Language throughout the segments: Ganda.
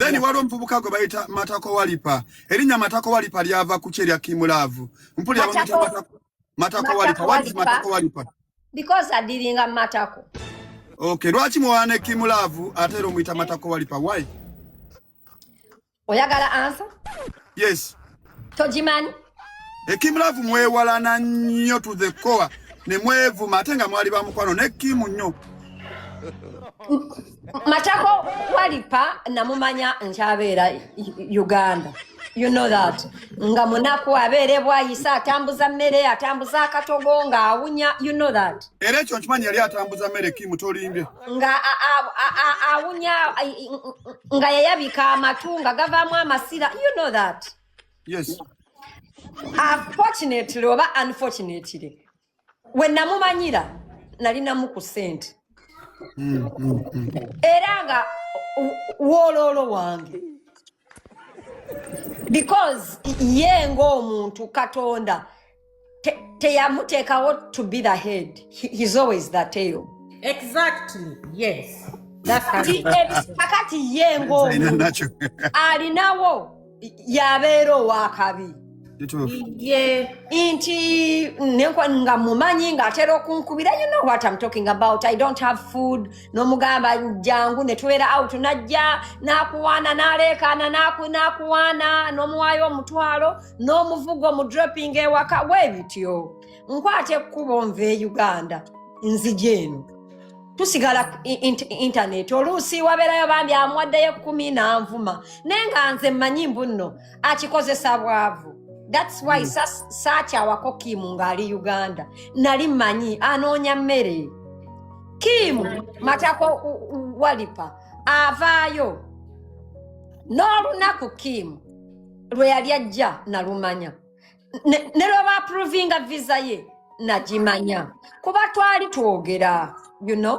then wali omuvubuka gwe bayita matako walipa erinnya matako walipa lyava ku kye lya kimulaavu mpulira bamuyita matako matako walipa what is matako walipa because adiringa matako okay lwaki muwaana ekimulaavu ate era omuyita matako walipa why oyagala ansa yes togimanyi ekimulavu mwewalana nnyo to the core ne mwevuma ate nga mwali bamukwano ne kimu nnyo matako walipa namumanya nkyabeera uganda you know that nga munaku abeera ebwayisa atambuza mmere atambuza akatogo ng'awunya you know that era ekyo nkimanyi yali atambuza mmere kimu tolimbye nga awunya nga yayabika amatu nga gavaamu amasira you know that yes unfortunately oba unfortunately we namumanyira nalinamu ku sente mm, mm, mm. era nga wooloolo wange because ye ng'omuntu katonda teyamuteekawo to be the head he's always the tail exactly yes kakati ye ng'omuntu alinawo yabeera owakabi nti nga mumanyi ng'atera okunkubira you know what I'm talking about I don't have food n'omugamba jangu ne tubeera out najja n'akuwaana n'aleekaana n'akuwaana n'omuwaayo omutwalo n'omuvugo mu dropping ewaka weebityo nkwata ekkubo nva e Uganda nzija eno tusigala intaneti oluusi wabeerayo bambi amuwaddeyo ekkumi n'anvuma naye nga nze mmanyi mbu nno akikozesa bwavu thats why mm. saakyawako kimu ng'ali uganda nali manyi anoonya mmere kimu hmm. matako walipa avaayo n'olunaku kimu lwe yali ajja nalumanya Ne- ne lwe baapuruvinga visa ye nagimanya kuba twali twogera you know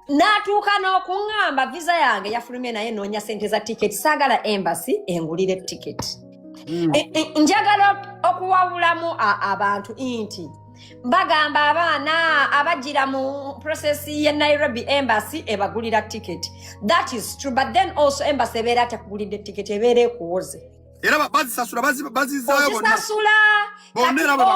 n'atuuka n'okuŋŋamba visa yange yafulumye naye noonya sente za tiketi saagala embassy engulire tiketi Mm. E- e- njagala ok- okuwabulamu a- abantu nti bagamba abaana abajira mu process ye nairobi embassy ebagulira ticket that is true but then also embassy ebeera tekugulidde ticket ebeera ekuwoze era bazisasula bazizayobonasasula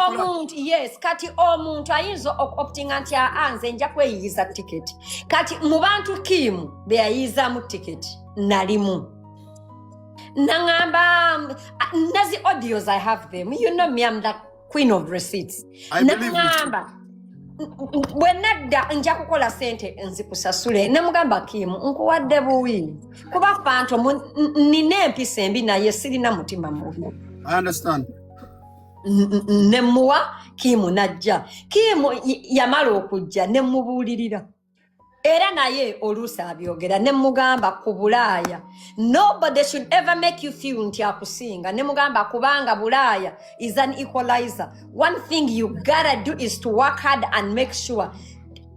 omuntu yes kati omuntu ayinza okutinga nti aa nze nja kweyiyiza tiketi kati mu bantu kiimu beyayiyizamu tiketi nalimu naŋamba nazi audios i have them you know me am that queen of receipts namugamba bwe nadda nja kukola sente nzikusasule namugamba kimu nkuwadde buwi kuba fanto nina empisa embi naye sirina mutima mubi nemuwa kimu najja kimu yamala okujja nemubuulirira era naye oluusi abyogera ne mugamba ku bulaaya nobody should ever make you feel nti akusinga ne mugamba kubanga bulaaya is an equalizer one thing you gotta do is to work hard and make sure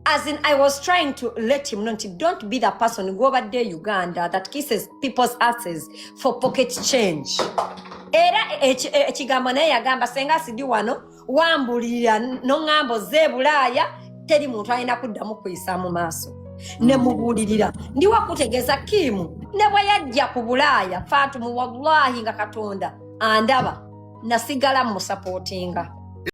as in i was trying to let him know nti don't be the person gwobadde e uganda that kisses people's asses for pocket change era ekigambo naye yagamba senga sidi wano wambulira noŋŋamba ozze e bulaaya teri muntu alina kuddamu kuyisa mu maaso ne mubuulirira ndiwo kutegeeza kiimu ne bwe yajja ku bulaaya faatumu wallahi nga katonda andaba nasigala mu musapootinga